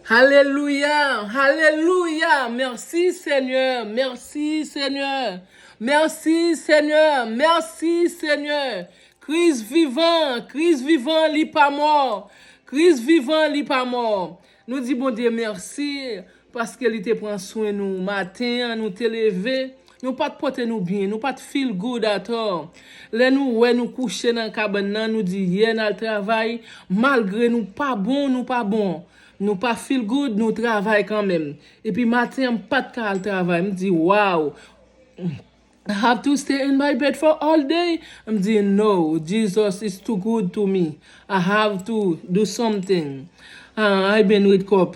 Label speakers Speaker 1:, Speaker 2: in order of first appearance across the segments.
Speaker 1: Hallelujah Hallelujah merci seigneur merci seigneur merci seigneur merci seigneur Christ vivan Christ vivan li pa mò Christ vivan li pa mò nou di Bondye merci paske li te pran swen nou maten an nou te leve Nou pa t pote nou byen. Nou pa t feel good at all. Lè nou wè nou kouche nan kabann nan, nou di yeah n al travay, malgre nou pa bon, nou pa bon. Nou pa feel good, nou travay kanmenm. Epi maten an m pa t ka al travay. M di wow! I have to stay in my bed for all day? M di no, Jesus is too good to me. I have to do something. Ah, I been with kòp.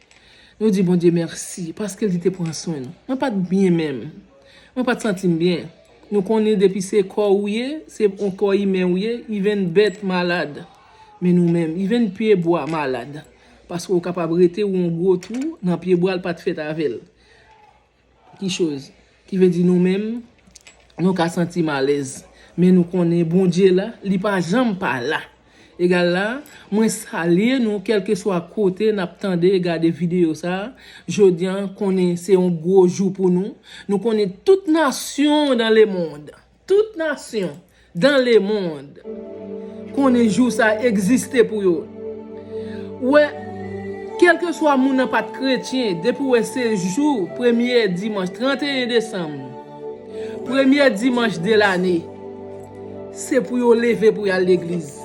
Speaker 1: Nou di Bondye mèsi paske li te pran swen nou. Mwen pa t byen menm. Mwen pa t santi m byen. Nou konnen depi se kò ou ye, se on kò imen ou ye, ivenn bèt malad. Men nou menm, ivenn pye bwa malad. Paske ou kapab rete ou on gwo twou nan pye bwa l pa t fèt avè l. Ki choz ki vle di nou menm nou ka santi m alèz men nou konnen Bondye la li pa janm pa la. Egal la, mwen salye nou kèlkeswa kote n ap tande e gade videyo sa a, jodi an konnen se yon gwo jou pou nou, nou konnen tout nasyon dan lemond Tout nasyon dan lemond konnen jou sa egziste pou yo wè kelkeswa moun nan pat kretyen depi wè se jou premye dimanch 31 desanm premye dimanch de lane se pou yo leve pou yal legliz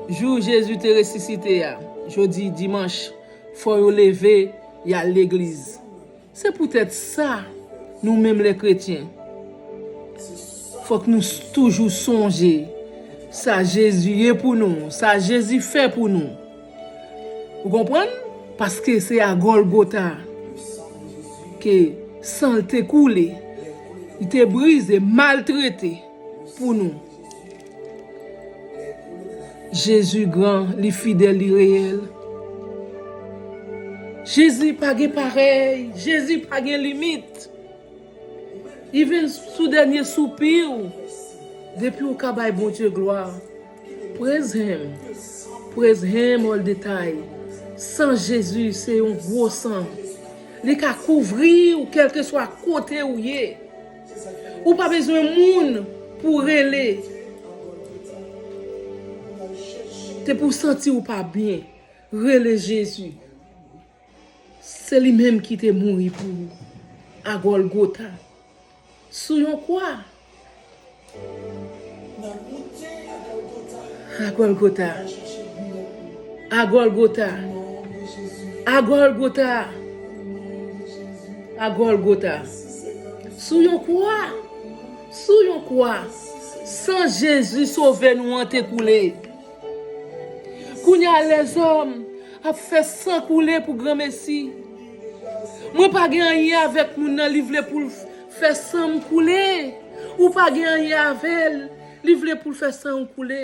Speaker 1: jou jezi te resisite a jodi dimanch fò yo leve yal legliz. Se poutèt sa, nou menm lè kretyen, fòk nou toujou sonje sa Jezi ye pou nou, sa Jezi fè pou nou. Ou konprann? Paske se a Gòlgota ke san l te koule, li te brize, maltrete pou nou. Jezi gran, li fidèl, li reyèl. Jezi pa gen parèy, Jezi pa gen limit. Even sou dènye soupi ou, depi ou ka bay Bondye glwa. Praise him, praise him all the time. San Jezi se yon gwo san. Li ka kouvri ou kèlkeswa kote ou ye. Ou pa bezwen moun pou w rele. Te pou w santi w pa byen. Rele Jezi. Se li menm ki te mouri pou ou. A Gòlgota. Sou yon kwa. A Gòlgota. A Gòlgota. A Gòlgota. A Gòlgota. Sou yon kwa. Sou yon kwa. San Jezi sove nou an te koule. Kounya lèzòm ap fè san koule pou granmesi. Mwen pa gen anyen avèk moun nan li vle poul fè sanm koule. Ou pa gen anyen avèl li vle poul fè sanw koule.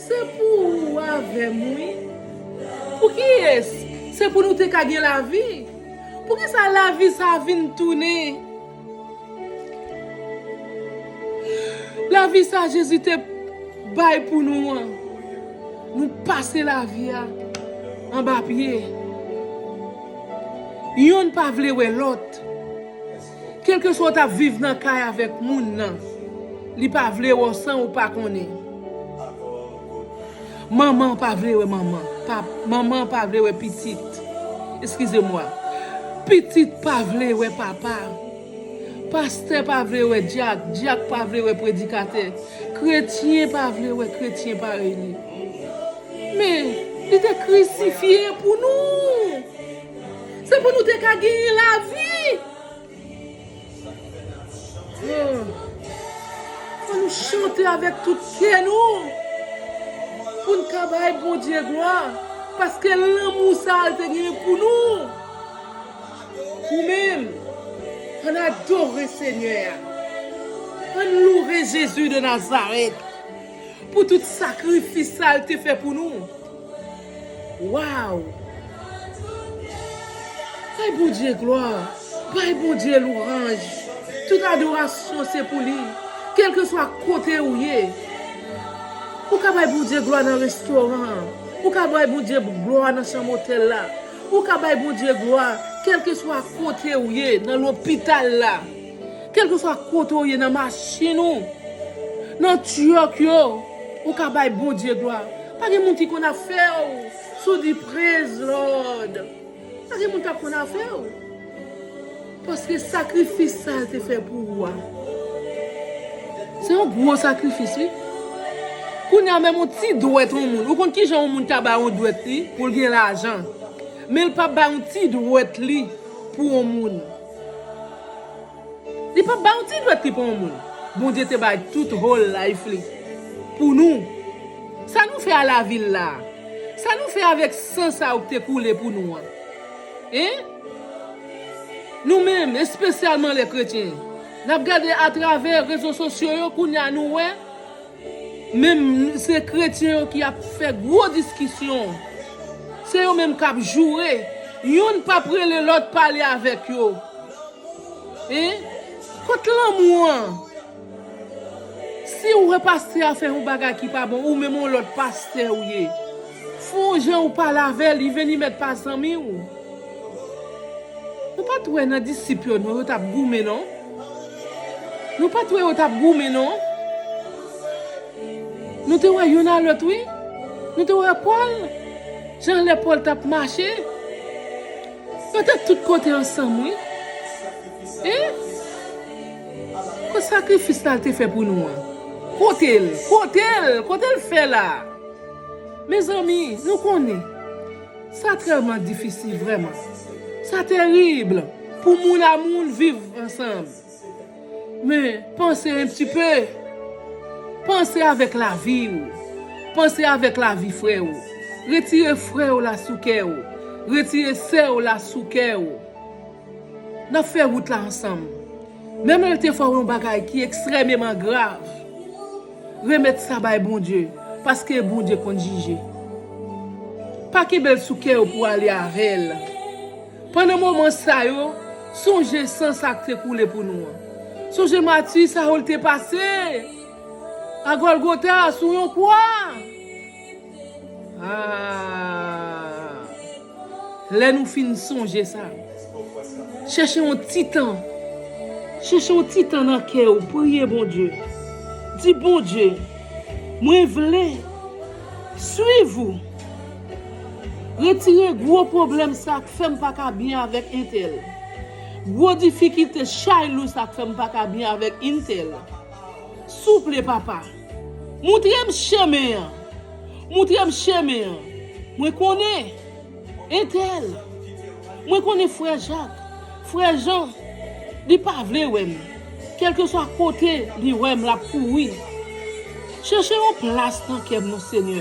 Speaker 1: Se pou ou avè m wi. Pou kiyès? Se pou nou te ka gen lavi. Poukisa lavi sa a vin tounen? Lavi sa a Jezi te bay pou nou an, nou pase lavi a anba pye. Yonn pa vle wè lòt. Kelkeswa w tap viv nan kay avèk moun nan li pa vle wè w san ou pa konnen manman pa vle wè manman manman pa vle wè pitit eskize mwa pitit pa vle wè papa pastè pa vle wè dyak dyak pa vle wè predikatè kretyen pa vle wè kretyen parèy li men li te krisifye pou nou. Se pou nou te ka genyen la vi. Fò nou chante avèk tout kè nou. Pou n ka bay Bondye glwa. Paske lanmou sa a l te genyen pou nou. Ou menm. An n adore Senyè a. An n loure Jezi de Nazarèt. Pou tout sakrifis sa a l te fè pou nou. Waww Bay Bondye glwa Bay Bondye louranj Tout adorasyon se pou li Kelkeswa kote ou ye Ou ka bay Bondye glwa nan restoran an Ou ka bay Bondye glwa nan chanm otèl la Ou ka bay Bondye glwa Kelkeswa kote ou ye Nan lopital la Kèlkeswa kote ou ye nan machin ou, nan truck yo, ou ka bay Bondye glwa. Pa gen moun ki konn afè w si w di Praise Lord. Pa gen moun k ap konn afè w. Paske sakrifis sa l te fè pou ou a, se yon gwo sakrifis wi. Kounye a menm yon ti dwèt yon moun, ou konn ki jan yon moun ka bay yon dwèt li pou l gen lajan, men l pa bay yon ti dwèt li pou yon moun. Li pap baw ti dwèt li pa yon moun. Bondye te bay tout whole life li pou nou. Sa nou fè a lavi l la a? Sa nou fè avèk san sa yo ki te koule pou nou an? Hein? Nou menm, espesyalman lè kretyen, nap gade atravè rezo sosyo yo kounya nou wè. Menm se kretyen yo ki ap fè gwo diskisyon. Se yo menm k ap joure. Youn p ap rele lòt pale avèk yo. Hein? Kot lanmou an? Si ou wè pastè a fè yon bagay ki pa bon, ou menm yon lòt pastè ou ye. Fon jan ou pale avè l, li vin li mèt pa zanmi ou. Nou pat wè nan disip yo non yo tap goumen non Nou pat wè yo tap goumen non Nou te wè youn a lòt wi Nou te wè Paul jan lè Paul tap mache Yo te tout kote ansanm wi Hein Kot sakrifis la te fè pou nou an Kotel Kotel Kotel fè la Mezanmi nou konnen Sa trèlman difisil vrèman. Sa terib pou moun a moun viv ansanm. Men, panse un petit peu. Panse avèk lavi ou. Panse avèk lavi frè ou. Retire frè ou la sou kè ou. Retire sè ou la sou kè ou. N ap fè wout la ansanm. Menm lè l te fè w yon bagay ki ekstrèmeman grav. Remet sa bay Bondye paske Bondye konn jije. Pa kenbel sou kè yo pou ale avel. Pandan moman sa yo, sonje san sa k te koule pou nou an. Sonje mati sa yo l te pase a Golgota sou yon kwa. Lè nou fin sonje sa, chèche yon ti tan, chèche yon ti tan nan kè ou, priye Bondye. Di Bondye, mwen vle swiv ou. Retire gwo pwoblèm sa k fè m pa ka byen avèk entèl. Gwo difikilte, chay lou sa k fè m pa ka byen avèk entèl. Souple papa. Moutre m chemen an. Moutre m chemen an. Mwen konnen. Entèl. Mwen konnen frè Jak, frè Jan. Li pa vle wè m. Kèlkeswa kote li wè m l ap kouri. Chèche yon plas nan kè m non Senyè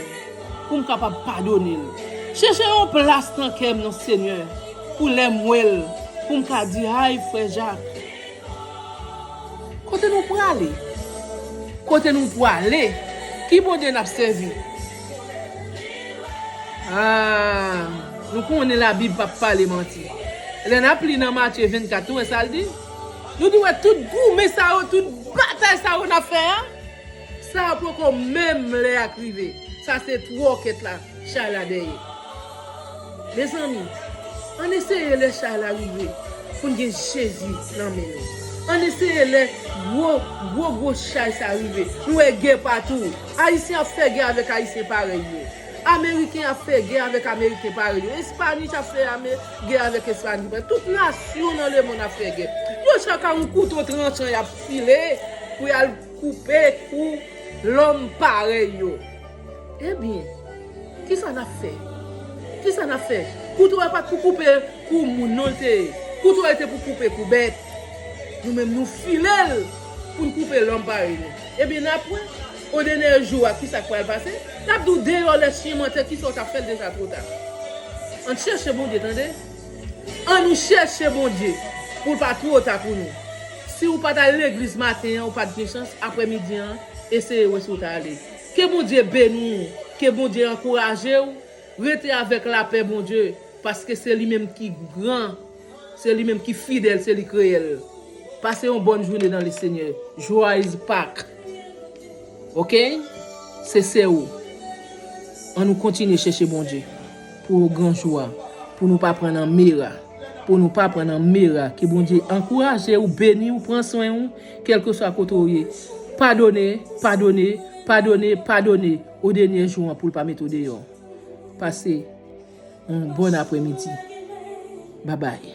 Speaker 1: pou m kapab padone l. Chèche yon plas nan kè m non Senyè pou lè m wè l pou m ka di ay frè Jak Kote nou prale? Kote nou pwale? Ki Bondye nap sèvi? Aah nou konnen la bib pap pale manti. Lè nap li nan Matye 24 nou wè sal di? Nou di wè tout goumen sa yo tout batay sa yo nap fè a? Sa yo poko menm lè ak rive. Sa se twò kèt la. Chay la dèyè. Mezanmi, ann eseye lè chay la rive pou n gen Jezi nan men nou. Ann eseye lè gwo, gwo, gwo chay sa a rive. Nou wè gè patou. Ayisyen ap fè gè avèk Ayisyen parèy yo. Ameriken ap fè gè avèk Ameriken parèy yo. Espani ap fè gè avèk Espani parèy yo. Tout nasyon nan lemonn ap fè gè. Yo chak a yon kouto tranchan y ap file pou y al koupe kou lòm parèy yo. Ebyen, kisa n ap fè? Kisa n ap fè? Kouto a pa t pou koupe kou moun non l te. Kouto a te pou koupe kou bèt. Nou menm nou file l pou n koupe lòm parèy nou. Ebyen n ap wè, o dènè jou a kisa k pral pase. L ap di w deyò lè chyen mantè kisa w t ap fè l deja two ta. Ann chèche Bondye tande. Annou chèche Bondye pou l pa two ta pou nou. Si w pa t al legliz maten an ou pa t gen chans, aprè midi an eseye wè si w ta ale. Ke Bondye beni w ke Bondye ankouraje w rete avèk lapè Bondye paske se li menm ki gran se li menm ki fidèl se li kreye l pase yon bòn joune nan le senyè joyz pak ok se sè ou an nou kontinye chèche Bondye. Pou gran jou a. Pou nou pa pran nan mera. Pou nou pa pran nan mera. Ke Bondye ankouraje ou, beni ou, pran swen ou, kelkeswa kote ou ye. Padone, padone, padone, padone, o denyè jou an pou l pa mete w deyò. Pase yon bòn apremidi. Babay.